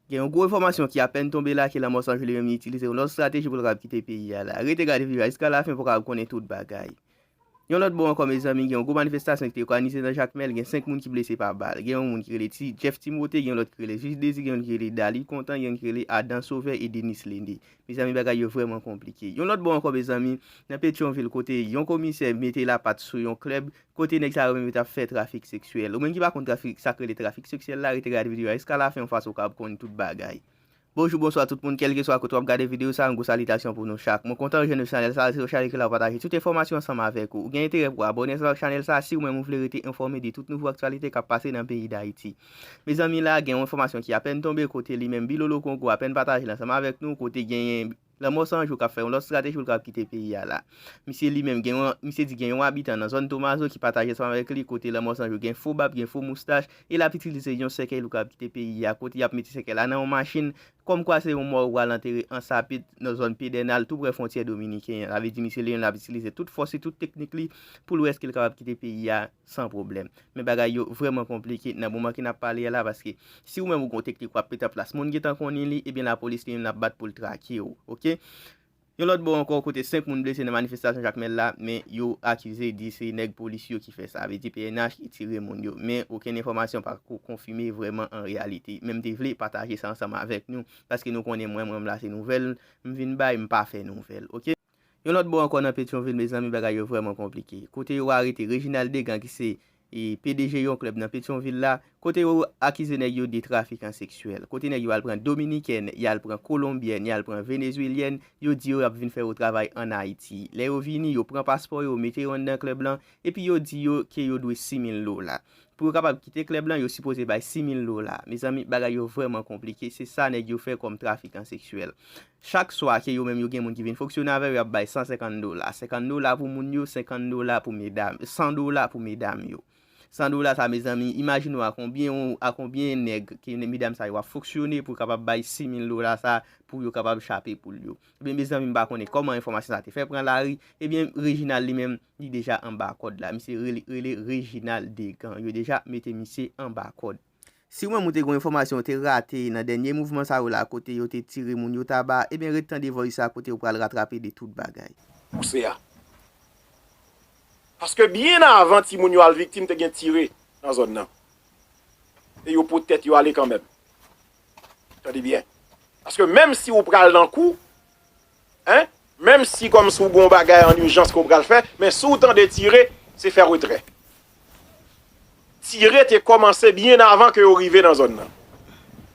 Gen yon gwo enfòmasyon ki apèn tonbe la ke Lanmò San Juli menm itilize yon lòt strateji pou l kapab kite peyi a la. Rete gade videyo a jiska lafen pou w kapab konnen tout bagay. Yon lòt bò ankò mezanmi gen yon gwo manifestasyon ki te okanize nan Jakmèl, gen 5 moun ki blese pa bal. Gen yon moun ki rele Ti Jeff Timothé, gen yon lòt ki rele Jij Dezi, gen youn ki rele Daly Content, gen youn ki rele Adan Sauveur et Denis Lende. Mezanmi bagay yo vrèman konplike. Yon lòt bò ankò mezanmi, nan Petyonvil kote yon komisè mete lapat sou yon klèb, Kote nèg sa yo menm yo tap fè trafik seksyèl. Ou menm ki pa konn trafik sak rele trafik seksyèl la rete gad video a jiska lafen yon fas ou kab konn tout bagay. Bonjou bonswa tout moun kèlkeswa kote wap gade video sa yon gwo salitasyon pou nou chak. Mwen kontan rejwenn nou chanèl sa rete sou chanèl ki la pou pataje tout enfòmasyon ansanm avèk ou. Ou gen enterè pou abòne ansanm ak chanèl sa siw menm ou vle rete enfòme de tout nouvo aktyalite kap pase nan peyi dayiti. Mezanmi la gen yon enfòmasyon ki apèn tonbe kote li menm Bilolo Kongo apèn patajel ansanm avèk nou kote genyen Lanmò san jou ka fè yon lòt strateji pou l kapab kite peyi a la. Misye li menm gen yon misye di gen yon abitan nan zòn Tomazo ki pataje sa avèk li kote Lanmò san jou gen fo bab, gen fo moustach e l ap itilize yon sèkèy pou kapab kite peyi a kote y ap mete sèkèy la nan yon machin kòmkwa se yon mò yo pral antere ansapit nan zòn Pedènal tou prè fwontyè dominiken an. Sa vle di misye Leon l ap itilize tout fòs li, tout teknik li pou l wè èske l kapab kite peyi a. San pwoblèm. Men bagay yo vrèman konplike nan moman ke n ap pale a la paske si ou menm ou gen yon teknik w ap mete an plas moun gentan konnen li ebyen lapolis li menm l ap bat pou l trake w ok. Yon lòt bò ankò kote 5 moun blese nan manifestasyon Jakmèl la men yo akize di se nèg polis yo ki fè sa vle di pnh ki tire moun yo men okenn enfòmasyon pa ko konfime vrèman an reyalite men m te vle pataje sa ansanm avèk nou paske nou konnen mwen menm la se nouvèl m vin bay m pa fè nouvèl ok. Yon lòt bò ankò nan Petyonvil mezanmi bagay yo vrèman konplike. Kote yo arete Reginald Degan ki se pdg yon klèb nan Petyonvil la, kote yo akize nèg yo de trafikan seksyèl, kote nèg yo al pran dominikèn, y al pran kolonbyèn, y al pran venezwelyèn, yo di yo y ap vin fè yo travay ann Ayiti. Lè yo vini, yo pran paspò yo, mete yo anndan klèb lan, epi yo di yo ke yo dwe 6 mil dola. Pou yo kapab kite klèb lan, yo sipoze bay 6 mil dola. Mezanmi, bagay yo vrèman konplike. Se sa nèg yo fè kòm trafikan seksyèl. Chak swa ke yo menm yo gen moun ki vin fonksyone avè yo y ap bay 150 dola. 50 dola pou moun yo, 50 dola pou medam, 100 dola pou medam yo. 100 dola sa mezanmi, imajine w a konbyen w, a konbyen nèg ke medam sa yo ap fonksyone pou kapab bay 6000 dola sa pou yo kapab chape poul yo. Ebyen mezanmi m pa konnen kòman enfòmasyon sa te fè pran lari, ebyen Reginald li menm li deja anba kòd la. Misye rele Reginald Degan. Yo deja mete misye anba kòd. Si ou menm ou te gon enfòmasyon ou te rate nan dènye mouvman sa yo la kote yo te tire moun yo taba ebyen ret tande voice sa kote ou pral ratrape de tout bagay. pouse a. Paske byen avan timoun yo al viktim te gen tire nan zòn nan. E yo pot tèt yo ale kanmenm. Tande byen. Paske menm si ou pral nan kou. Hein menm si kòm si w gen yon bagay an urgence ke w pral fè men si w tande tire se fè retrè. Tire te kòmanse byen avan ke yo rive nan zòn nan.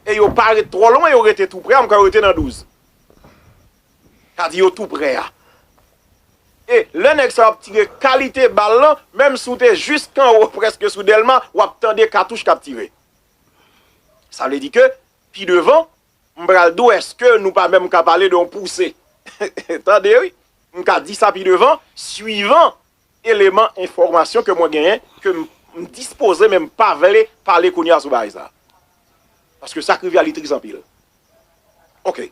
E yo pa ret twò lwen yo rete tou prè a m kwè yo te nan 12. Sa di yo tou prè a. E lè nèg sa yo ap tire kalite bal lan menm si w te jisk anwo prèske sou Dèlma w ap tande katouch k ap tire. Sa vle di ke pi devan M pral di w eske nou pa menm ka pale de yon pouse. Tande wi, m ka di sa pi devan, swivan eleman enfòmasyon ke mwen genyen, ke m dispoze men m pa vle pale kounye a sou bagay sa. Paske sa k rive a li tris anpil. Ok.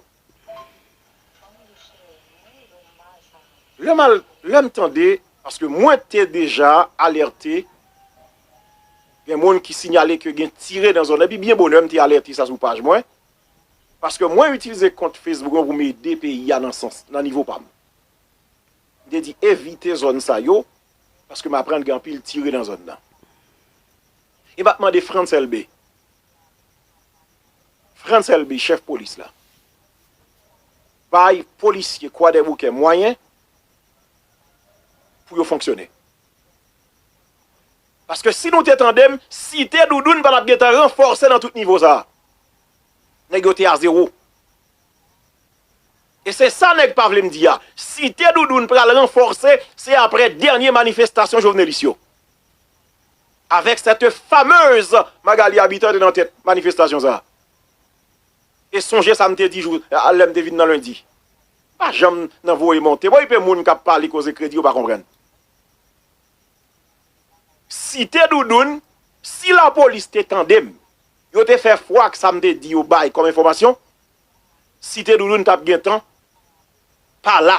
Lè m al, lè m tande, paske mwen te deja alète. Gen moun ki sinyale ke gen tire nan zòn nan, epi byen bonè m te alète sa sou paj mwen, paske mwen itilize kont Facebook mwen pou m ede peyi a nan sans, nan nivo pa m. M te di evite zòn sa yo, paske m aprann gen anpil tire nan zòn nan. E m ap mande Frantz Elbé, Frantz Elbé, chèf polis la, bay polisye Kwadèboukè mwayen pou yo fonksyone. Paske si nou te tandem, site Doudoune pa tap gentan ranfòse nan tout nivo sa. Nèg yo te a zewo. E se sa nèg pa vle m di a. Site Doudoune pral ranfòse se aprè dènye manifestasyon Jovenelis yo. Avèk cette fameuse Magalie Habitant te nan tèt manifestasyon sa. E sonje sa m te di jou a lè m te vin nan Lendi. M pa janm nan voye monte. Bon ipe moun k ap pale koze kredi yo pa konprann. Site Doudoun, si lapolis te tande m, yo te fè fwa ak sa m te di yo bay kòm enfòmasyon, Site Doudoun t ap gen tan pa la.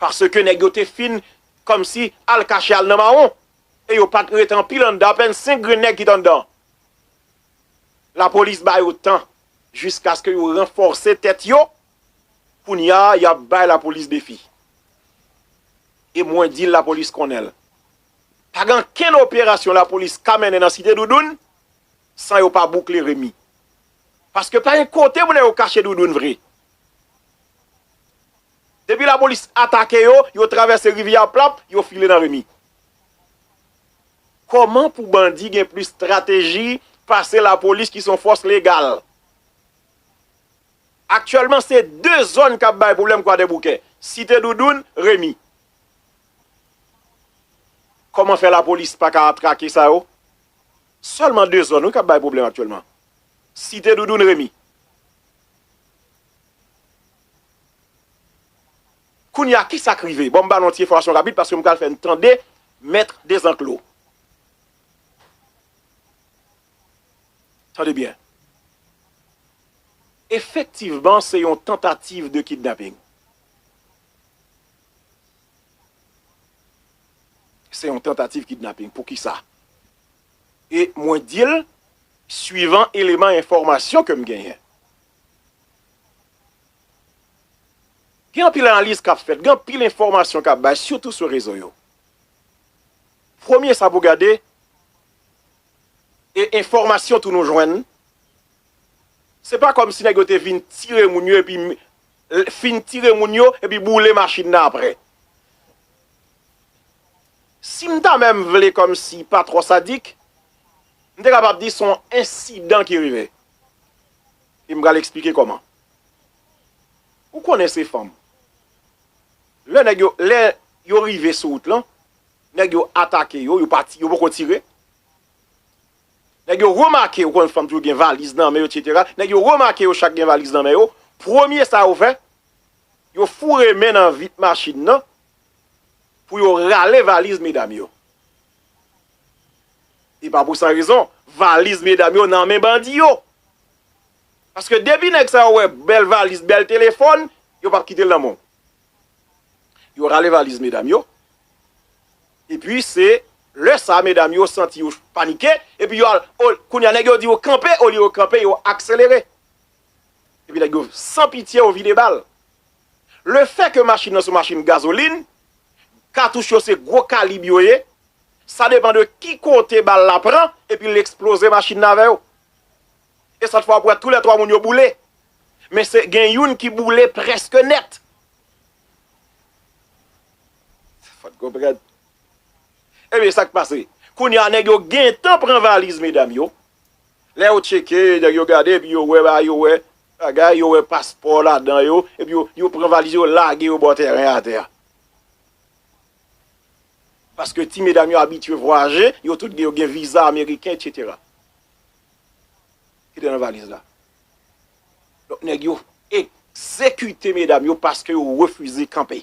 Paske nèg yo te fin kòmsi al kache al nan mawon. E yo pa t ret anpil anndan, apèn senk grenn nèg ki t anndan. Lapolis ba yo tan jiskaske yo ranfòse tèt yo, kounya y ap bay lapolis defi. E mwen di l lapolis konnen l. Pa gen ankenn operasyon lapolis ka mennen nan Site Doudoun san yo pa boukle Remy. Paske pa gen kote pou nèg yo kache Doudoun vre. Depi lapolis atake yo, yo travèse rivyè a plap, yo file nan Remy. Kòman pou bandi gen plis strateji pase lapolis ki son fòs legal? Aktyèlman se 2 zòn kap bay pwoblèm kwadèboukè, site doudoun, remi. Kòman fè lapolis paka trake sa yo? Sèlman 2 zòn wi kap bay pwoblèm aktyèlman, site doudoun, remi. Kounya kisak rive? Bon m ba nou yon ti enfòmasyon rapid paske m pral fè n tande Maître Desenclos. Tande byen. Efektivman se yon tantativ de kidnaping. Se yon tantativ kidnaping. Poukisa? E mwen di l suivan eleman enfòmasyon ke m genyen. Gen anpil analiz k ap fèt, gen anpil enfòmasyon k ap bay sitou sou rezo yo. Premye sa pou gade e enfòmasyon tou nou jwenn, se pa kòmsi nèg yo te vin tire moun yo epi fin tire moun yo epi boule machin nan aprè. Si m ta menm vle kòmsi pa twò sadik, m te kapab di se yon ensidan ki rive. E m pral esplike kòman. Ou konnen se fanm. Lè nèg yo, lè yo rive sou wout lan, nèg yo atake yo, yo pa ti, yo poko tire. Nèg yo remake, ou konnen fanm toujou gen valiz nan men yo etc. Nèg yo remake yo chak gen valiz nan men yo, premye sa yo fè, yo foure men nan vit machin nan pou yo rale valiz medam yo. E pa pou san rezon, valiz medam yo nan men bandi yo. Paske depi nèg sa yo wè bèl valiz, bèl telefòn, yo pap kite l nan men w. Yo rale valiz medam yo, epi se lè sa medam yo santi yo panike, epi yo al, kounye a nèg yo di yo kanpe, olye yo kanpe, yo akselere. Epi nèg yo san pitye yo vide bal. Le fè ke machin nan se yon machin gazolin, katouch yo se gwo kalib yo ye, sa depan de ki kote bal la pran, epi l eksploze machin nan avè yo. e sòt fwa ou pran tou lè 3 moun yo boule men se gen youn ki boule prèske nèt fòt konprann ebyen sak pase kounye a nèg yo gentan pran valiz medam yo lè yo tcheke nèg yo gade epi yo wè ba yo wè bagay yo wè paspò ladan yo epi yo pran valiz yo lage yo bò tèren atè a paske ti medam yo abitye vwayaje yo tout gen yo gen viza ameriken etc. ki te nan valiz la. Donk nèg yo egzekite medam yo paske yo refize kanpe.